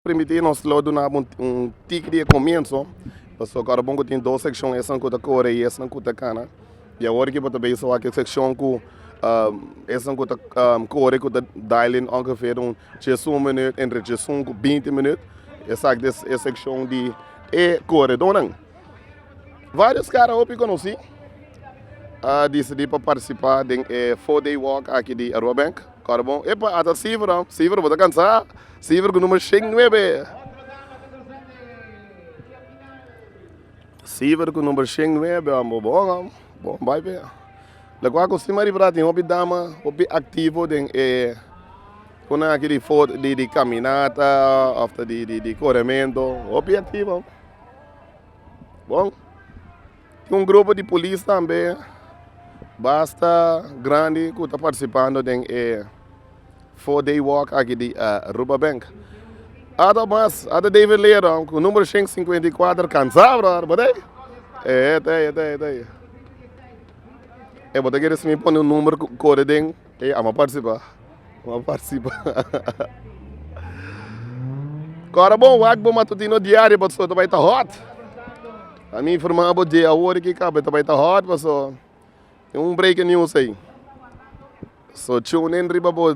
Permiti nos lo duna bo un tiki di e komienso, pasobra kor bo tin dos sekshon, esnan ku ta kore i esnan ku ta kana. I awor aki bo ta bisa wak e sekshon ku esnan ku ta kore ku ta dailen ongever un tyesun minuut, entre tyesun ku binti minuut. Esaki ta e sekshon di e koredónan. Vários kara hopi konosí a disidí pa partisipá den e four day walk aki di Aruba Bank. Corbon, Epa, ata Siver ho. Siver, bo ta cansa? Siver cu numero shen nuebe. Siver cu numero shen nuebe ho, bo bon ho. Bon, bay pe. Locual cu Simari Bra tin hopi dama, hopi activo den e cona aki di fot, di, di caminata of ta di, di, di coremento. Hopi activo. Bon. Un grupo di polis tambe basta grandi ku ta partisipando den e four day walk aki di Aruba Bank. Ato mas, ato David Leerdam ku numero shen sinkuenta i kuater kansa brother, bo ta ei? Ei, ei ta ei, ei ta ei, ei ta ei. Ei bo ta kere smi pone un number ku kore den. Ey ama participa ama participa Cora bo wak bo matutino diario paso ta bay ta hot a mi informa bo dje awor e kiko abe ta bay ta hot paso tin un breaking news ey so tune in riba bo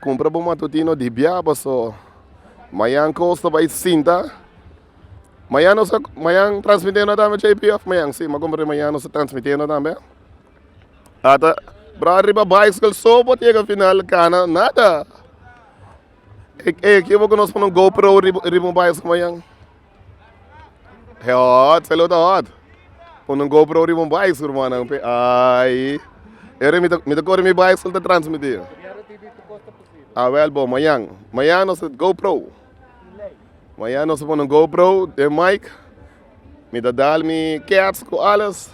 cumpra bo matutino di bia paso mañan cos ta bay sinta mañan nos ta mañan transmitendo tambe JP of mañan si m'a comprendido mañan nos ta transmitiendo tambe. Ata bra riba bicycle so por yega final cana nada e ekipo cu nos pone un go pro riba riba un bicycle mañan he hot salo ta hot pone un go pro riba un bicycle rumannan pe ai ere mi ta mi ta corri mi bicycle ta transmiti a wel bo mañan mañan nos ta go pro mañan nos ta pone un go pro den mike mi ta dal mi cats cu alles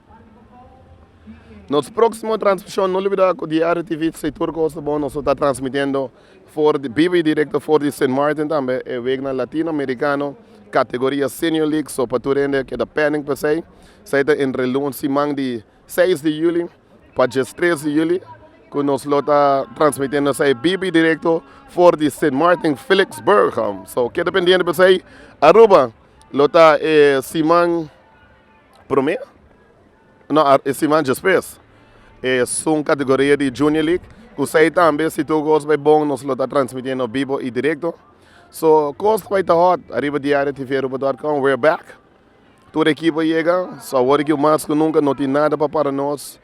Nos próksimo transmishon no libidá ku Diario TV Sector Costa Bon nos lo ta transmitiendo for di biba i direkto for di Sint Maarten tambe e weknan Latino Amerikano kategoria Senior League so pa tur hende a keda pending pa esei esei ta entre luns siman di seis di yuli pa djes tres di yuli ku nos lo ta transmitiendo esei biba i direkto for di Sint Maarten Villigsburg so keda pendiente pa esei Aruba lo ta e siman. Promé, no, e siman djespes, es un kategoria di Junior League ku esei tambe si tur kos bai bon nos lo ta transmití no bibo i direkto. So, kos bai ta hòt ariba Diario TV Aruba dòt kòm. We're back! Tur ekipo a yega, so awor aki mas ku nunka no tin nada pa para nos.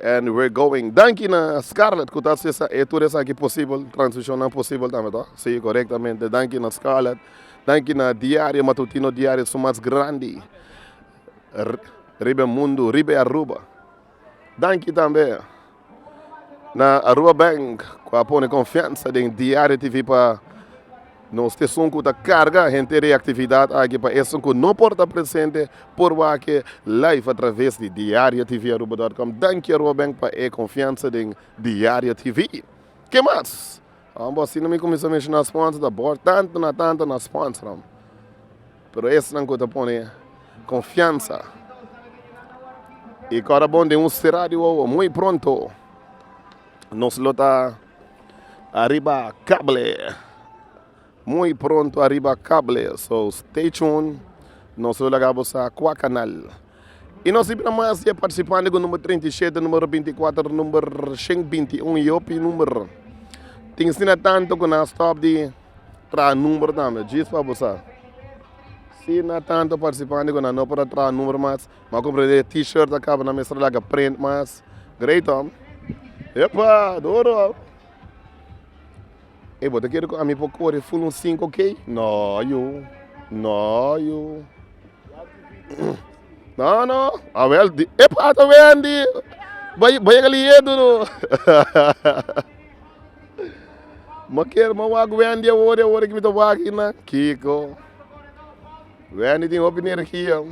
And we're going Danki na Scarlett ku ta haci esa e tur esaki posibel, transmisionnan posibel tambe to? Si, korektamente. Danki na Scarlett, danki na diario matutino diario su mas grandi riba e mundu, riba e Aruba. Danki tambe na Aruba Bank ku a pone konfiansa den diario TV pa. Nos esun ku ta karga henter reaktividat aki pa esun ku no por ta presente por wak-e live a traves di Diario TV Aruba dòt kòm. Danki Aruba Bank pa e konfiansa den Diario TV. Ke mas? Ora bo asina mi kuminsá menshoná sponsors ta bòrda tantu na tantu na sponsornan. Pero esnan ku ta pone konfiansa i kora bon den un será di wowo. Muy pronto nos lo ta. Ariba cable muy pronto ariba cable so stay tune nos lo laga bo sa cua canal y nos a ibra mas diae participante cu number treinta y shete number binti y cuater number shen binti y un y hopi number tin asina tanto cu nan a stop di traha number tambe djis pa bo sa asina tanto participante cu nan no por a traha number mas. M'a compra e t-shirt a caba na mester a laga print mas great hombre. Epa duro ho. Ey bo ta kere cu ami por cori full un cinco k? No yu, no yu no no a wel di epa ata Wendy bo a yega liye duru m'a kere m'a wak Wendy awor y awor mi ta wak kico Wendy tin hopi nergia.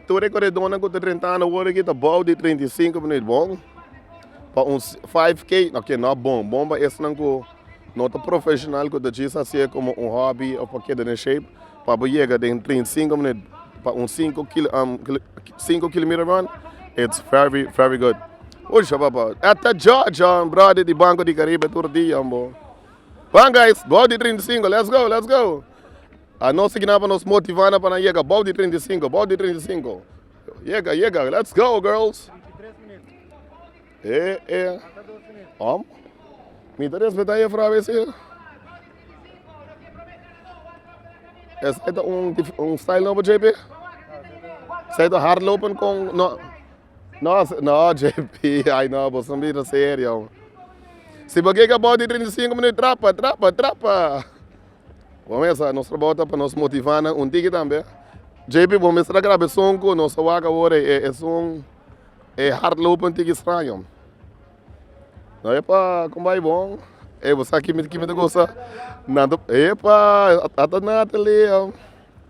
Tur e koredornan ku ta rentá na wòrdu aki ta bou di treinta i sinku minüt bon pa un five k, no ke no bon, bon pa esnan ku no ta profeshonal ku ta djis hasié komo un hòbi òf pa keda den shape, pa bo yega den treinta i sinku minüt pa un sinku sinku kilometer ròn it's very very good. Pucha papá esta jòjò bròda di banko di karibe tur dia bo. Wan guys bou di trinta i sinku let's go let's go a nos sigi nan pa nos motiva nan pa nan yega bou di trinta i sinku bou di trinta i sinku yega yega let's go girls eh eh om mi ta respeta e efra ese esai ta un un style nobo JP esai ta hardlopen kon no. No no JP ay no boso a mira serio si bo ke kaba di trinta i sinku minut trapa trapa trapa bo mesa nos trabou ta pa nos motiva nan un tiki tambe JP bo mester a graba e son ku nos a wak awor e son e hard loop un tiki straño no epa con bay bon ey bo sa kime kime ta gosa nan ta epa ata Nathalie.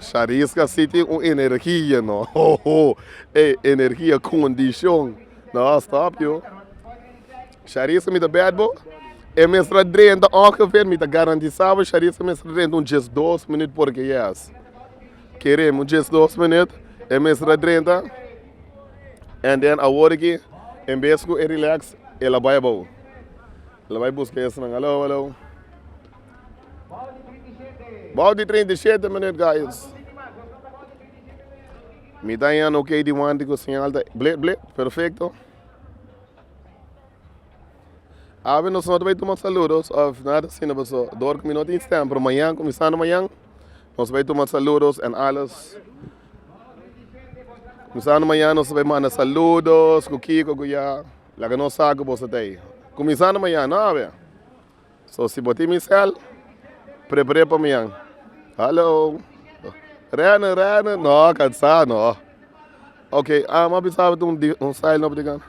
Shariska si tin un energia no hoho ey energia condicion no a stop yo shariska mi ta bed bo e mestra drenta ongever mi ta garantisa bo shariska mestra drenta un dies dos minut por ke yes kere mi un dies dos minut e mestra drenta en den awor ki en bes ku e relax el a bai abao. Lo bai buska esnan alou alou. Bou di treinta i shete minut guys. Mi ta yan ok di wanti ku señal ta blit blit perfecto. Awe nos no ta bai tuma saludos of nada sino paso dor ku mi no tin stem pero mañan kuminsando mañan nos bai tuma saludos en alles. Kuminsando mañan nos ta bai manda saludos ku kiko ku ya. Laga nos sa ku boso ta ei. Kuminsando mañan nòbe. So si bo tin mi sèl, prepar'é pa mañan. Hallo. Rène, Rène, nò, kansá nò. Ok, a m'a bisa bo tin un style nobo di gana.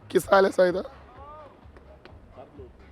Ki style esei ta?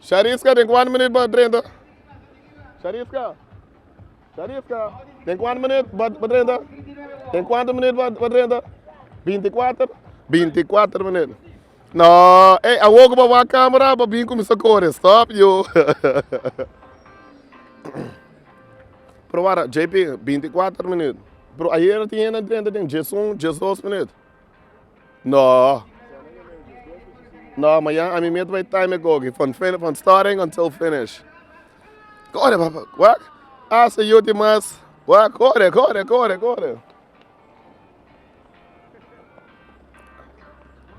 Shariska den kuantu minut pa drenta Shariska Shariska den kuantu minut pa drenta den kuantu minut pa drenta binti kuater binti kuater minut no ey awor ku bo a wak camera bo a bin kuminsha kore stop yu probar JP binti kuater minut pero ayer a tin hende drenta den diesun diesdos minut. No no mañan ami mia ta bai time koki from fini from starting until finish kore papá wak hasta e ulti mas wak kore kore kore kore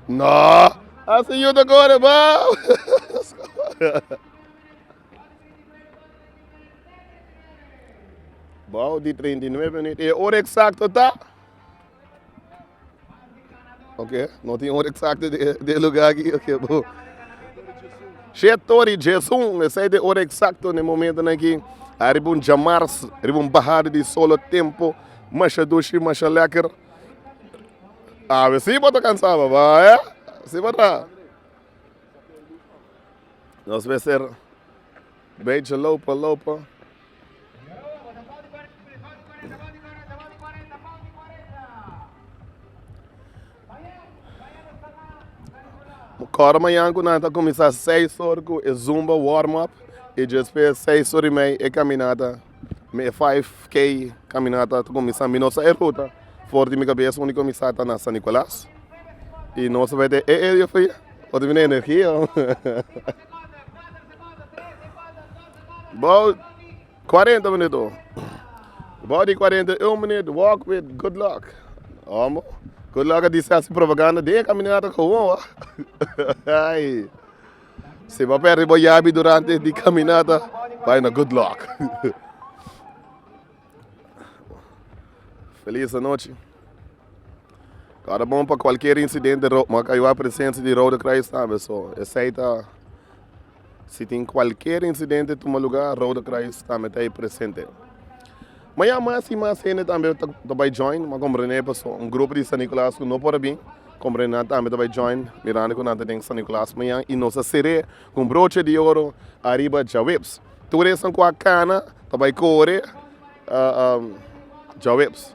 no hasta e ulti kore bou bou di treinta i nueve minit e ora eksakto ta. Ok no tin hora eksakto di e luga aki ok bo she tori jesun esei ta e hora eksakto na e momentonan aki ariba un djamars riba un bahada di solo tempo masha dushi masha lekker awe si bo ta kansa papá eh si bo ta nos mester. Beidje lopa lopa. Kòrda mañan ku nan ta kuminsá seis or ku e zumba warm up i despues seis or i mei e kaminata mi e five k kaminata ta kuminsá mi no sa e ruta for di mi kabes unda mi kuminsá ta na san nikolas i nos a bete e e dios mio ota mi na energia. Bou cuarenta minut o bou di cuarenta y un minut walk with good luck omo good luck a di sa su propaganda den e caminata como a ay si bo perdi bo yabi durante di caminata bay na good luck Feliz anochi. Kara bon pa kualkier insidente ro maka ayuda presensia di Rode Kruis tambe so esei ta si tin kualkier insidente tuma luga Rode Kruis tambe ta ei presente. Ma ya mas i mas hende tambe ta ta bai join m'a komprende paso un grupo di San Nicolas ku no por a bin komprende nan tambe ta bai join mirando ku nan ta den San Nicolas mañan i nos a ser'é Cu un broche di oro ariba djaweps. Tur esan cu a cana pa bay core djaweps.